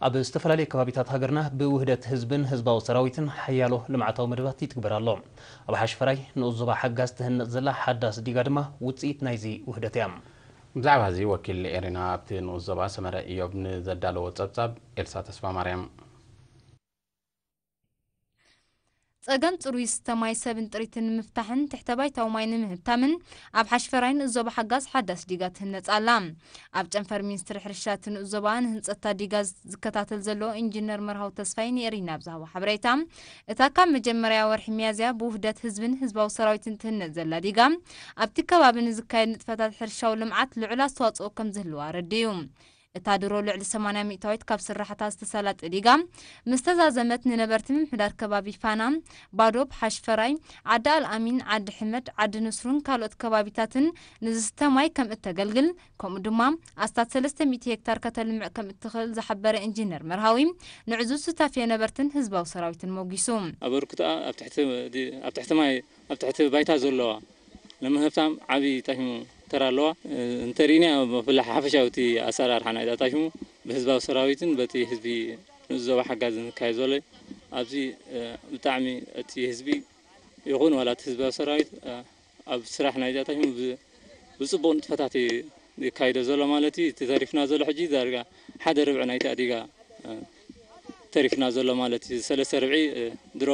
ኣብ ዝተፈላለዩ ከባቢታት ሃገርና ብውህደት ህዝብን ህዝባዊ ሰራዊትን ሓያሎ ልምዓታዊ መደባት ይትግበር ኣሎ። ኣብ ሓሽፈራይ ንኡስ ዞባ ሓጋዝ ትህነጽ ዘላ ሓዳስ ዲጋ ድማ ውጽኢት ናይዚ ውህደት እያ። ብዛዕባዚ ወኪል ኤሪና ኣብቲ ንኡስ ዞባ ሰመረ ኢዮብ ንዘዳለዎ ጸብጻብ ኤልሳ ተስፋማርያም። ፀገም ፅሩይ ዝስተ ማይ ሰብን ጥሪትን ንምፍታሕን ትሕተ ባይታዊ ማይ ንምህብታምን ኣብ ሓሽፈራይ ንእዞባ ሓጋዝ ሓዳስ ዲጋ ትህነፅ ኣላ። ኣብ ጨንፈር ሚኒስትሪ ሕርሻ እቲ ንእዞባ ንህንፀትታ ዲጋ ዝከታተል ዘሎ ኢንጂነር መርሃዊ ተስፋይ ንኤሪና ኣብ ዝሃቦ ሓበሬታ እታ ካብ መጀመርያ ወርሒ ሚያዝያ ብውህደት ህዝብን ህዝባዊ ሰራዊትን ትህነፅ ዘላ ዲጋ ኣብቲ ከባቢ ንዝካየድ ንጥፈታት ሕርሻዊ ልምዓት ልዑል ኣስተዋፅኦ ከምዝህልዋ ኣረዲኡ። እታ ድሮ ልዕሊ ሰማንያ ሚእታዊት ካብ ስራሕታ ዝተሳላጥ ዲጋ ምስ ተዛዘመት ንነበርቲ ምምሕዳር ከባቢ ፋና፣ ባዶብ፣ ሓሽፈራይ፣ ዓዲ ኣልኣሚን፣ ዓዲ ሕመድ፣ ዓዲ ንስሩን ካልኦት ከባቢታትን ንዝስተ ማይ ከም እተገልግል ከምኡ ድማ ኣስታት ሰለስተ ሚእቲ ሄክታር ከተልምዕ ከም እትኽእል ዝሓበረ ኢንጂነር መርሃዊ ንዕዙዝ ሱታፌ ነበርትን ህዝባዊ ሰራዊትን ሞጒሱ። ኣበርክቶኣ ኣብ ትሕቲ ማይ ኣብ ትሕቲ ባይታ ዘለዋ ንምህብታም ዓቢ ጣሽሙ ተራ ኣለዋ እንተ ርኢናዮ ብፍላይ ሓፈሻዊ እቲ ኣሰራርሓ ናይዛ ጣሽሙ ብህዝባዊ ሰራዊትን በቲ ህዝቢ ንኡስ ዞባ ሓጋዝን ዝካየድ ዘሎ እዩ ኣብዚ ብጣዕሚ እቲ ህዝቢ ይኹን ዋላ እቲ ህዝባዊ ሰራዊት ኣብ ስራሕ ናይዛ ጣሽሙ ብጽቡቕ ንጥፈታት እዩ ይካይዶ ዘሎ ማለት እዩ እቲ ተሪፍና ዘሎ ሕጂ ዳርጋ ሓደ ርብዒ ናይቲ ኣዲጋ ተሪፍና ዘሎ ማለት እዩ። ሰለስተ ርብዒ ድሮ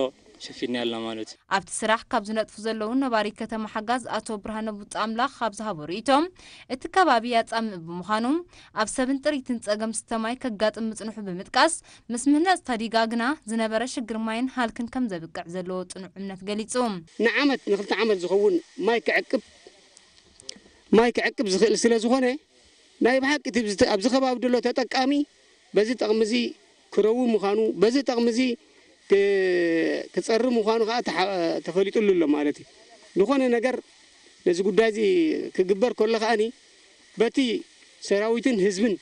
ሸፊንያ ኣለና ማለት እዩ። ኣብቲ ስራሕ ካብ ዝነጥፉ ዘለዉ ነባሪ ከተማ ሓጋዝ ኣቶ ብርሃነ ቡጻምላኽ ኣብ ዝሃቦ ርእይቶ፣ እቲ ከባቢ ያጻምእ ብምዃኑ ኣብ ሰብን ጥሪትን ጸገም ስተ ማይ ከጋጥም ምጽንሑ ብምጥቃስ፣ ምስ ምህናጽ ታዲጋ ግና ዝነበረ ሽግር ማይን ሃልክን ከም ዘብቅዕ ዘለዎ ጽኑዕ እምነት ገሊጹ። ንዓመት ንክልተ ዓመት ዝኸውን ማይ ክዕቅብ ማይ ክዕቅብ ዝኽእል ስለ ዝኾነ ናይ ብሓቂ እቲ ኣብዚ ከባቢ ድሎ ተጠቃሚ በዚ ጠቕሚ እዚ ክረዊ ምዃኑ፣ በዚ ጠቕሚ እዚ ክጸሪ ምዃኑ ከኣ ተፈሊጡሉ ኣሎ ማለት እዩ። ዝኾነ ነገር ነዚ ጉዳይ እዚ ክግበር ከሎ ከኣ በቲ ሰራዊትን ህዝብን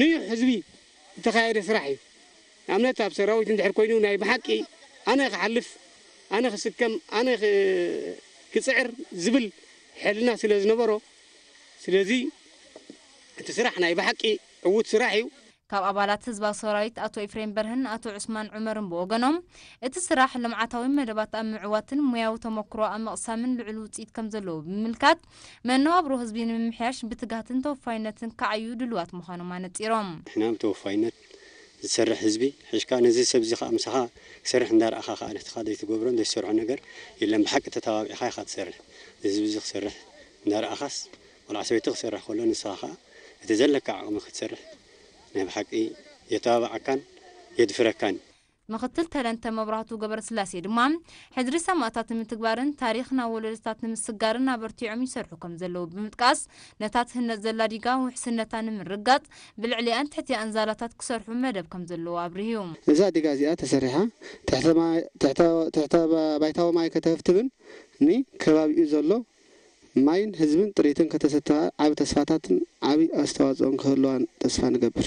ንዩሕ ህዝቢ ዝተኻየደ ስራሕ እዩ። ንኣብነት ኣብ ሰራዊት እንድሕር ኮይኑ ናይ ብሓቂ ኣነ ክሓልፍ፣ ኣነ ክስከም፣ ኣነ ክጽዕር ዝብል ሕልና ስለ ዝነበሮ ስለዚ እቲ ስራሕ ናይ ብሓቂ ዕዉት ስራሕ እዩ። ካብ ኣባላት ህዝባዊ ሰራዊት ኣቶ ኢፍሬም በርሀን ኣቶ ዑስማን ዑመርን ብወገኖም፣ እቲ ስራሕ ልምዓታዊ መደባት ኣብ ምዕዋትን ሞያዊ ተሞክሮ ኣብ ምቕሳምን ልዑል ውፅኢት ከምዘለዎ ብምምልካት፣ መነባብሮ ህዝቢ ንምምሕያሽ ብትግሃትን ተወፋይነትን ክዓዩ ድሉዋት ምዃኖም ኣነፂሮም። ንሕና ብተወፋይነት ዝሰርሕ ህዝቢ ሒሽካ ነዚ ሰብ እዚ ከዓ ምሳኻ ክሰርሕ እንዳርኣኻ ከዓ ንሕትኻ ዘይትገብሮን ዘይትሰርሖን ነገር የለን ብሓቂ ተተባቢዕኻ ኢኻ ትሰርሕ ንህዝቢ እዚ ክሰርሕ እንዳርኣኻስ ቆልዓ ሰበይቲ ክሰርሕ ከሎ ንስኻ ከኣ እቲ ዘለካ ዓቕሚ ክትሰርሕ ናይ ብሓቂ የተባብዓካን የድፍረካን እዩ። ምክትል ተረንተ መብራህቱ ገበረስላሴ ድማ፣ ሕድሪ ሰማእታት ንምትግባርን ታሪኽ ናብ ወለዶታት ንምስጋርን ኣበርቲዖም ይሰርሑ ከምዘለዉ ብምጥቃስ፣ ነታ ትህነጽ ዘላ ዲጋ ውሕስነታ ንምርግጋጽ ብልዕሊኣን ትሕቲኣን ዛላታት ክሰርሑ መደብ ከምዘለዎ ኣብሪሁ። እዛ ዲጋ እዚኣ ተሰሪሓ ትሕተ ባይታዊ ማይ ከተህብትብን ንከባቢኡ ዘሎ ማይን ህዝብን ጥሪትን ከተሰትፋ ዓቢ ተስፋታትን ዓቢ ኣስተዋጽኦን ክህልዋ ተስፋ ንገብር።